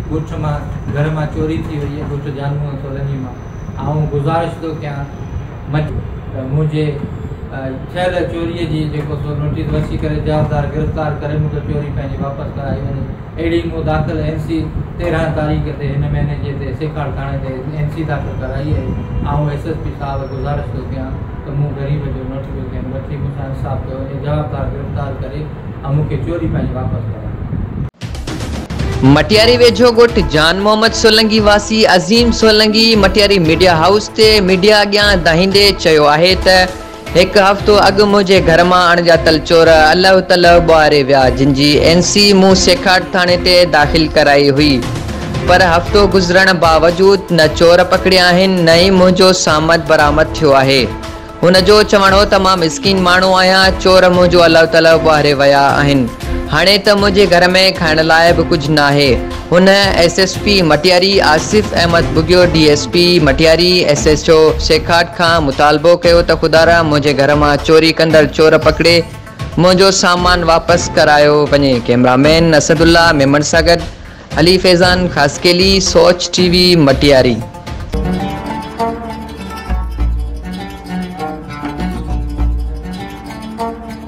ڳوٺ مان گهر مان چوري ٿي وئي ڳوٺ جانوء سولنگي مان آئون گذارش ٿو ڪيان مچ ته منهنجي ٿيل چوري جي جيڪو سو نوٽيس وسي ڪري جوابدار گرفتار ڪري مون کي چوري پنهنجي واپس ڪرائي وڃي اهڙي مون داخل اين سي تيرهن تاريخ تي هن مهيني جي تي سيکاڙ ٿاڻي تي اين سي داخل ڪرائي آهي آئون ايس ايس پي صاحب گذارش ٿو ڪيان ته مون غريب جو نوٽ پيو ٿين وٺي مون سان انصاف ڪيو وڃي جوابدار گرفتار ڪري ۽ مون کي چوري پنهنجي واپس ڪرائي. مٽياري ويجهو ڳوٺ جان محمد سولنگي واسي عظيم سولنگي مٽياري ميڊيا هائوس تي ميڊيا اڳيان دانهيندي چيو آهي ته، هڪ هفتو اڳ منهنجي گهر مان اڻڄاتل چور الهه تلهه ٻهاري ويا جن جي اين سي مون سيکاٽ ٿاڻي تي داخل ڪرائي هئي پر هفتو گذرڻ باوجود نه چور پڪڙيا آهن نه ئي منهنجو سامد برآمد ٿيو آهي هن جو چوڻ هو ته مان مسڪين ماڻهو آهيان چور منهنجو الهه تلهه ٻهاري ويا آهن هاڻي ته منهنجي گهر ۾ کائڻ لاء به ڪجهه ناهي. هن S S P Matiari Asif Ahmed Bughio, D S P Matiari, S H O Sekhat کان مطالبو ڪيو ته خدارا منهنجي گهر مان چوري ڪندڙ چور پڪڙي منهنجو سامان واپس ڪرايو وڃي، camera man Asadullah Memon سان گڏ علي فيضان خاصخيلي، سوچ ٽي وي مٽياري.